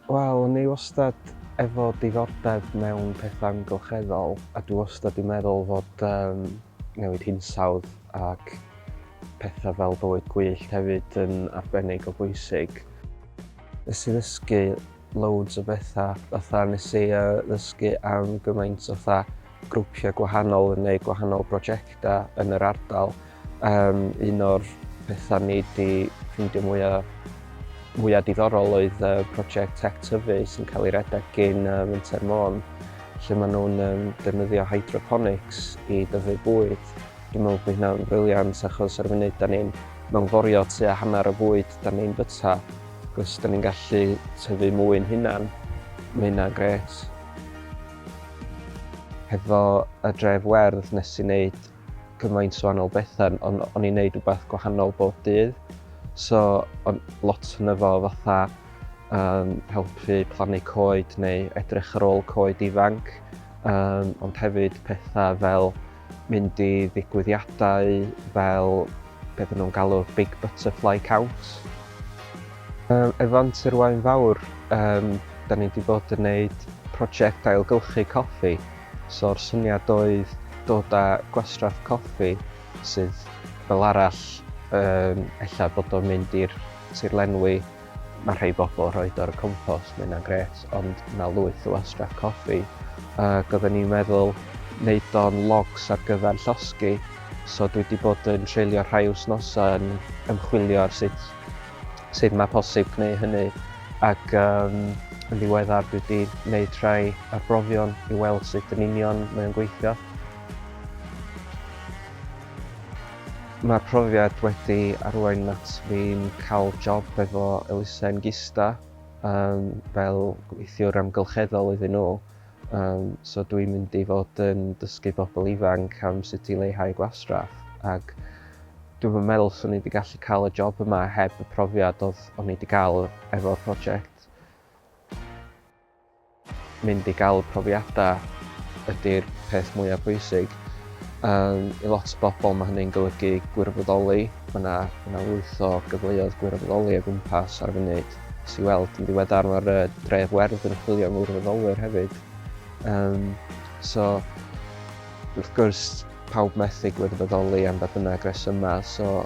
Wel, o'n i wastad efo diddordeb mewn pethau amgylcheddol a dwi wastad 'di meddwl fod um, newid hinsawdd ac pethau fel bywyd gwyllt hefyd yn arbennig o bwysig. Nes i ddysgu loads o betha, fatha nes i uh, ddysgu am gymaint o fatha grwpiau gwahanol yn gwneud gwahanol brosiectau yn yr ardal. Um, un o'r pethau ni wedi ffeindio mwyaf mwyaf diddorol oedd uh, prosiect Tech Tyfu sy'n cael ei redeg gyn uh, Winter Môn, lle maen nhw'n um, defnyddio hydroponics i dyfu bwyd. Dwi'n meddwl bod hynna'n briliant achos ar y funud da ni'n mewnforio tua hanner y bwyd da ni'n byta Os da ni'n gallu tyfu mwy'n hunan, mae hynna'n gret. Hefo y dref werdd nes i wneud gymaint o wahanol bethau, ond o'n i'n neud rhywbeth gwahanol bob dydd. So, o'n lot yn efo fatha um, helpu plannu coed neu edrych ar ôl coed ifanc, um, ond hefyd pethau fel mynd i ddigwyddiadau fel be dyn nhw'n galw'r Big Butterfly Count. Um, efo Antur Wain Fawr, um, da ni wedi bod yn gwneud prosiect ailgylchu coffi, so'r syniad oedd dod â gwastraff coffi sydd fel arall um, ella bod o'n mynd i'r tirlenwi Mae rhei bobl rhoed o'r compost, mae hynna'n gret, ond mae lwyth o wastraff coffi. Ac oedden ni'n meddwl wneud o'n logs ar gyfer llosgi, so dwi wedi bod yn treulio rhai wythnosau yn ymchwilio ar sut, sut mae posib gwneud hynny. Ac um, yn ddiweddar dwi wedi gwneud rhai arbrofion i weld sut yn union mae'n gweithio. Mae'r profiad wedi arwain at fi'n cael job efo elusen Gista yym fel gweithiwr amgylcheddol iddyn nhw yym so dwi'n mynd i fod yn dysgu bobl ifanc am sut i leihau gwastraff ac dwi'm yn meddwl 'swn i 'di gallu cael y job yma heb y profiad oedd o'n i 'di gael efo'r project. Mynd i gael profiadau ydy'r peth mwyaf pwysig. Um, I lot o bobl mae hynny'n golygu gwirfoddoli. Mae yna, yna lwyth o gyfleoedd gwirfoddoli o gwmpas ar y funud. Nes i weld yn ddiweddar mae'r uh, dref werdd yn chwilio am wirfoddolwyr hefyd. Um, so, wrth gwrs, pawb methu gwirfoddoli am ba bynnag resymau, so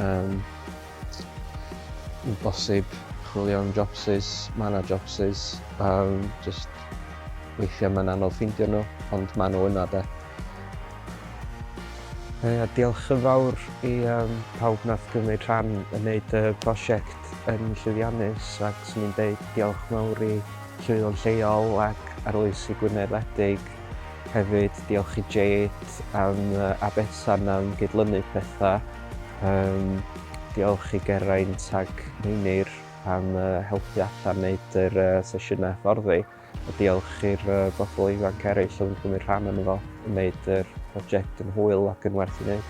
um, Yn bosib chwilio am jobsus, ma' 'na jobsus, yym jyst weithia' ma'n anodd ffeindio nhw ond ma' nhw yna 'de. Ia diolch yn fawr i yym pawb nath gymryd rhan yn neud y prosiect yn llwyddiannus ac 'swn i'n deud diolch mawr i Llywyddion Lleol ac Arloesi Gwynedd Wledig hefyd diolch i Jade am yy a Betsan am gydlynu petha. Um, diolch i Geraint ac Meinir am uh, helpu allan wneud yr uh, sesiynau fforddi. A diolch i'r uh, bobl ifanc eraill oedd yn cymryd rhan yn efo, yn wneud yr prosiect yn hwyl ac yn werth i wneud.